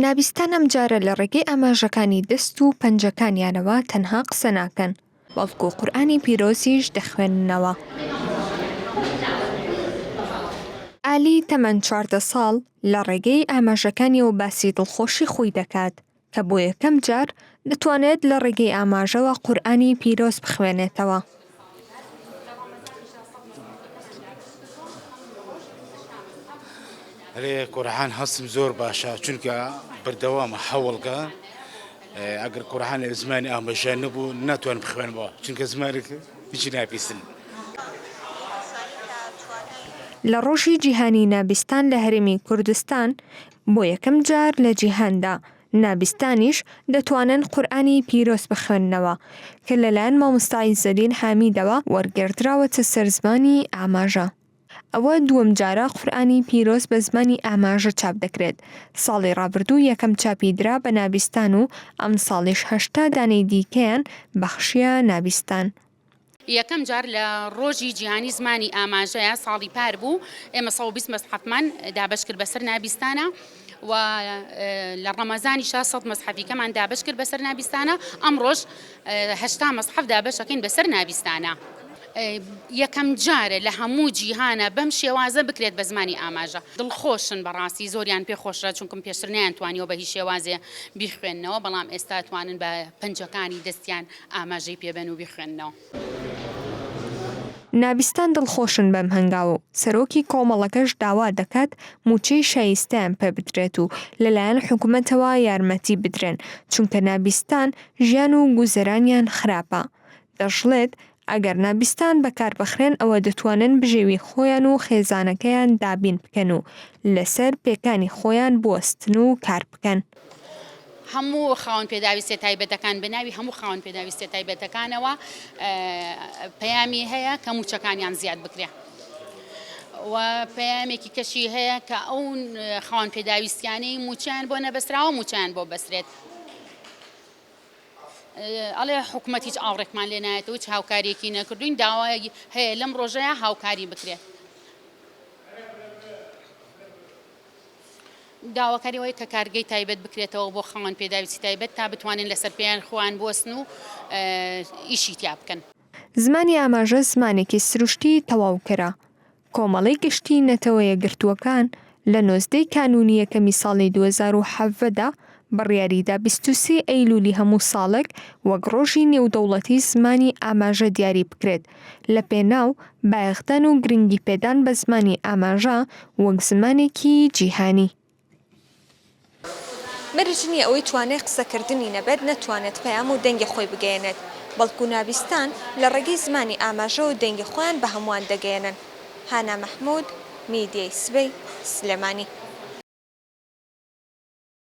نابیستان ئەم جارە لە ڕێگەی ئاماژەکانی دەست و پەنجەکانیانەوە تەنها قسە ناکەن، بەڵکو قورئانی پیرۆزیش دەخوێننەوە. ئالی تەمەن چواردە ساڵ لە ڕێگەی ئاماژەکانیەوە باسی دڵخۆشی خۆی دەکات، کە بۆ یەکەم جار دەتوانێت لە ڕێگەی ئاماژەوە قورئانی پیرۆز بخوێنێتەوە. لێ قورحان هەستم زۆر باشە چونکە بەردەوامە هەوڵگە ئەگەر قورحان لە زمانی ئامەژە نەبوو ناتوان بخوێنەوە چونکە زمانێک هیچی ناپیسن. لە ڕۆژی جیهانی نابیستان لە هەرێمی کوردستان بۆ یەکەم جار لە جیهاندا نابیستانیش دەتوانن قورئانی پیرۆز بخوێننەوە کە لەلایەن مامۆستا عیزەدین حامیدەوە وەرگێڕدراوەتە سەر زمانی ئاماژە. ئەوە دووەم جارە قورئانی پیرۆز بە زمانی ئاماژە چاپ دەکرێت، ساڵی ڕابردوو یەکەم چاپی درا بە نابیستان و ئەمساڵیش هەشتا دانەی دیکەیان بەخشییە نابیستان. یەکەم جار لە ڕۆژی جیهانی زمانی ئاماژەیە ساڵی پار بوو ئێمە سەد و بیست مەسحەفمان دابەش کرد بەسەر نابیستانە و لە ڕەمەزانی شا سەد مەسحەفیکەمان دابەش کرد بەسەر نابیستانە ئەمڕۆژ هەشتا مەسحەف دابەشەکەین بەسەر نابیستانە. یەکەم جارە لە هەموو جیهانە بەم شێوازە بکرێت بە زمانی ئاماژە دڵخۆشن بەڕاستی زۆریان پێ خۆشە چونکم پێشتر نیان توانیەوە بە هی شێوازێ بیخوێنەوە بەڵام ئێستا توانن بە پەنجەکانی دەستیان ئاماژەی پێ بەن و بیخوێننەوە. نابیستان دڵخۆشن بەم هەنگاوە و سەرۆکی کۆمەڵەکەش داوا دەکات مووچەی شایستەیان پێ بدرێت و لەلایەن حکومەتەوە یارمەتی بدرێن، چونکە نابیستان ژیان و گوزەرانیان خراپە. دەشڵێت، ئەگەر نابیستان بەکاربخرێن ئەوە دەتوانن بژێوی خۆیان و خێزانەکەیان دابین بکەن و لەسەر پێکانی خۆیان بوەستن و کار بکەن. هەموو خاوەن پێداویستیە تایبەتەکان بە ناوی هەموو خاوەن پێداویستیە تایبەتەکانەوە پەیامی هەیە کە موچەکانیان زیاد بکرێ و پەیامێکی کەشی هەیە کە ئەو خاوەن پێداویستیانەی موچیان بۆ نەبەستراوە موچیان بۆ بەسرێت ئەڵێ حکوومەت هیچ ئاوڕێکمان لێ نایەت و هیچ هاوکاریەکی نەکردوین داوای هەیە لەم ڕۆژەیە هاوکاری بکرێت داواکاری ئەوەیە کە کارگەی تایبەت بکرێتەوە بۆ خاوەن پێداویستی تایبەت تا بتوانن لەسەر پێیان خۆیان بوەستن و ئیشی تیا بکەن. زمانی ئاماژە زمانێکی سروشتیی تەواوکەرە. کۆمەڵەی گشتیی نەتەوە یەکگرتووەکان لە نۆزدەی کانوونی یەکەمی ساڵی دوو هەزار و حەڤدە بڕیاریدا بیست و سێ ئەیلوولی هەموو ساڵێک وەک ڕۆژی نێودەوڵەتی زمانی ئاماژە دیاری بکرێت لەپێناو بایەخدان و گرنگیپێدان بە زمانی ئاماژە وەک زمانێکی جیهانی. مەرج نییە ئەوەی توانای قسەکردنی نەبێت نەتوانێت پەیام و دەنگی خۆی بگەیەنێت، بەڵکو نابیستان لە ڕێگەی زمانی ئاماژەوە دەنگی خۆیان بە هەمووان دەگەیەنن. هانا مەحموود، میدیای سبەی، سلێمانی.